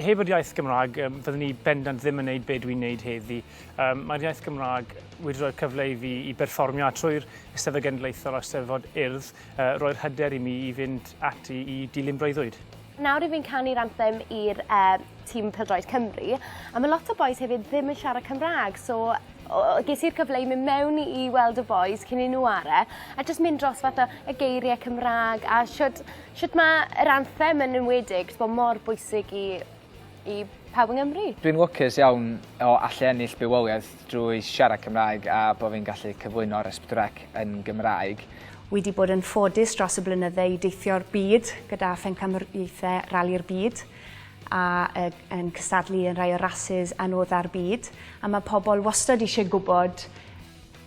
Heb yr iaith Gymraeg, fyddwn ni bendant ddim yn wneud be dwi'n wneud heddi. Mae'r iaith Gymraeg wedi rhoi'r cyfle i fi i berfformio a trwy'r Eisteddfod Genedlaethol a'r Eisteddfod Urdd, roi'r hyder i mi i fynd ati i dilyn breuddwyd. Nawr i fi'n canu'r anthem i'r tîm pêl-droed Cymru, a mae lot o bois hefyd ddim yn siarad Cymraeg, so ges i'r cyfle i mynd mewn i i weld y bois cyn i nhw are, a jyst mynd dros fath o y geiriau Cymraeg a shwt shwt ma' yr anthem yn enwedig t'bo' mor bwysig i i pawb yng Nghymru. Dwi'n lwcus iawn o allu ennill bywoliaeth drwy siarad Cymraeg a bo' fi'n gallu cyflwyno'r Esbdwrec yn Gymraeg. Wi 'di bod yn ffodus dros y blynydde i deithio'r byd gyda phencampwriaethau Rali'r Byd, a yn cystadlu yn rhai o'r rasys anodda'r byd, a mae pobl wastad eisiau gwybod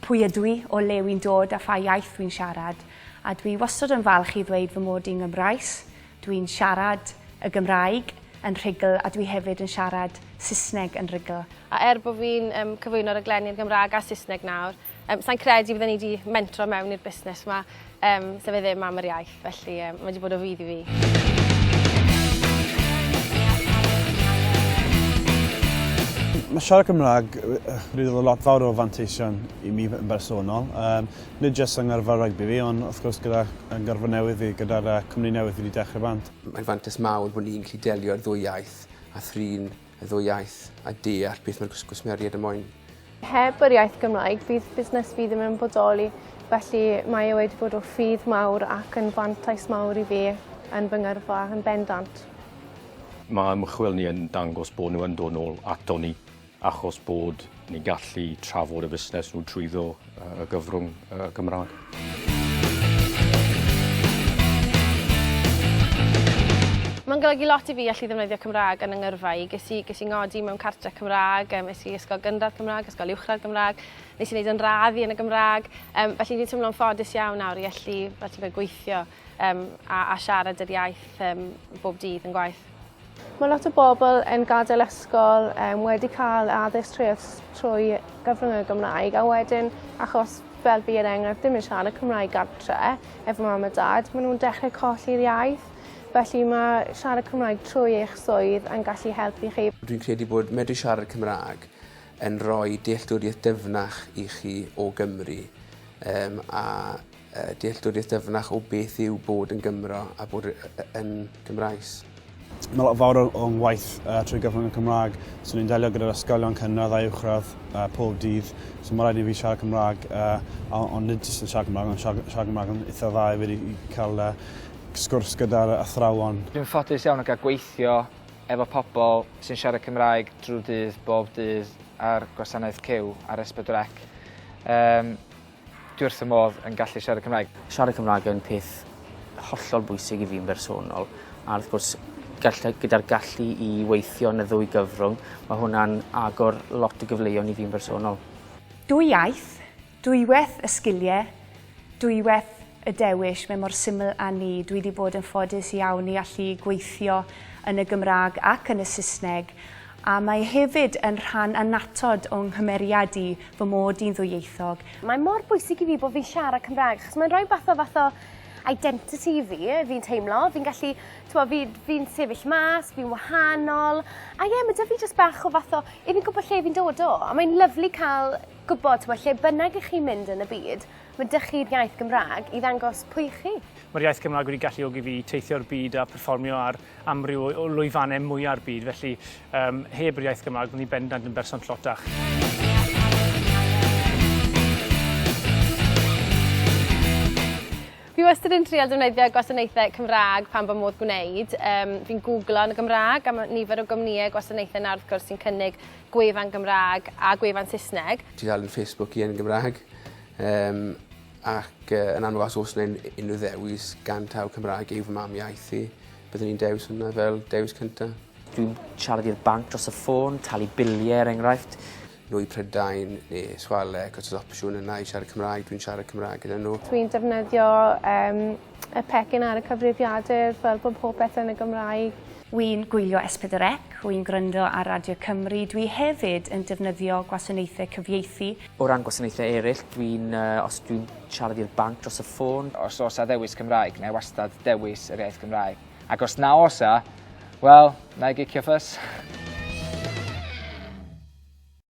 pwy ydw i, o le wy'n dod a pha iaith wy'n siarad, a dwi wastad yn falch i ddweud fy mod i'n Gymraes, dwi'n siarad y Gymraeg yn rhugl a dwi hefyd yn siarad Saesneg yn rhugl. A er bod fi'n cyflwyno rhaglenni yn Gymraeg a Saesneg nawr, Yym, sa'n credu bydden i wedi mentro mewn i'r busnes yma, um, se fe ddim am yr iaith, felly um, mae wedi bod o fydd i fi. Mae siarad Cymraeg wedi dod o lot fawr o fanteision i mi yn bersonol. Um, nid jyst yng ngyrfa rygbi fi, ond wrth gwrs gyda yn gyrfa newydd fi, gyda'r uh, cwmni newydd fi wedi dechrau bant. Mae'n fantais mawr bod ni'n gallu delio'r ddwy iaith a thrin y ddwy iaith a deall beth mae'r gwsmeriaid yn moyn. Heb yr iaith Gymraeg, bydd busnes fi ddim yn bodoli, felly mae e wedi bod o ffydd mawr ac yn fantais mawr i fi yn fy ngyrfa yn bendant. Mae ymchwil ni yn dangos bod nhw yn dod nôl ato ni achos bod Ni'n gallu trafod y busnes nhw trwyddo y gyfrwng y Gymraeg. Mae'n golygu lot i fi allu ddefnyddio Cymraeg yn yngyrfa i. Ges i, ges i ngodi mewn cartre Cymraeg, um, es i ysgol gynradd Cymraeg, ysgol uwchradd Gymraeg, nes i wneud yn raddi yn y Gymraeg. Um, felly fi'n teimlo'n ffodus iawn nawr i allu, fel ti'n gweithio um, a, a siarad yr iaith um, bob dydd yn gwaith. Mae lot o bobl yn gadael ysgol um, wedi cael addysg trwy, trwy gyfrwng y Gymraeg a wedyn achos fel fi yn er enghraifft ddim yn siarad y Cymraeg gartre efo mam a dad, maen nhw'n dechrau colli'r iaith. Felly mae siarad Cymraeg trwy eich swydd yn gallu helpu chi. Dwi'n credu bod medru siarad Cymraeg yn rhoi dealltwriaeth dyfnach i chi o Gymru um, a dealltwriaeth dyfnach o beth yw bod yn Gymro a bod yn Gymraes. Mae lot fawr o'n ngwaith uh, trwy gyfrwng y Cymraeg, so ni'n delio gyda'r ysgolion cynradd a uwchradd uh, pob dydd, so mae rhaid i fi siarad Cymraeg, uh, ond nid jyst yn siarad Cymraeg, ond siarad, siarad Cymraeg yn eitha dda i wedi cael uh, sgwrs gyda'r athrawon. Dwi'n ffodus iawn o gael gweithio efo pobl sy'n siarad Cymraeg drwy dydd bob dydd ar gwasanaeth cyw ar S4C. Um, Dwi wrth fy modd yn gallu siarad Cymraeg. Siarad Cymraeg yn peth hollol bwysig i fi'n bersonol a wrth gwrs gall- gyda'r gallu i weithio yn y ddwy gyfrwng mae hwnna'n agor lot o gyfleuon i fi'n bersonol. Dwy iaith, dwywaith y sgilie, dwywaith y dewis, mae mor syml â 'ny. Dwi 'di bod yn ffodus iawn i allu gweithio yn y Gymraeg ac yn y Saesneg A mae hefyd yn rhan annatod o 'nghymeriad i, fy mod i'n ddwyieithog. Mae mor bwysig i fi bod fi'n siarad Cymraeg achos mae'n rhoi bach o fath o identity i fi, fi'n teimlo. Fi'n gallu, t'mo' fi fi'n sefyll mas, fi'n wahanol. A ie, ma' 'da fi jyst bach o fath o, 'yf fi'n gwbod lle fi'n dod o. A mae'n lyfli cael gwbod, t'mo', lle bynnag 'ych chi'n mynd yn y byd, ma' 'da chi'r iaith Gymraeg i ddangos pwy 'ych chi. Mae'r iaith Gymraeg wedi galluogi fi i teithio'r byd a perfformio ar amryw o lwyfannau mwya'r byd, felly um, heb yr iaith Gymraeg, byddwn ni bendant yn berson tlotach. Fi wastad yn trial defnyddio gwasanaethau Cymraeg pan fy modd gwneud. Um, fi'n googlo yn y Gymraeg am nifer o gwmnïau gwasanaethau nawr wrth gwrs sy'n cynnig gwefan Gymraeg a gwefan Saesneg. Dwi'n dal yn Facebook i yn Gymraeg. Um, Ac yn amlwg os oes 'na unrhyw ddewis gan taw Cymraeg yw fy mam iaith i, byddwn i'n dewis hwnna fel dewis cynta. Dwi'n siarad i'r banc dros y ffôn, talu bilie er enghraifft. Nhw i Prydain ne' Swale ac os o's opsiwn yna i siarad Cymraeg dwi'n siarad Cymraeg gyda nhw. Dwi'n defnyddio yym y pecyn ar y cyfrifiadur fel bod popeth yn y Gymraeg. Wi'n gwylio S4C, wi'n gwryndo ar Radio Cymru, dwi hefyd yn defnyddio gwasanaethe cyfieithu, O ran gwasanaethau eraill, dwi'n, uh, os dwi'n siarad i'r banc dros y ffôn... Os osa ddewis Cymraeg, na i wastad dewis yr iaith Gymraeg. Ac os na osa, wel, na i gicio ffys.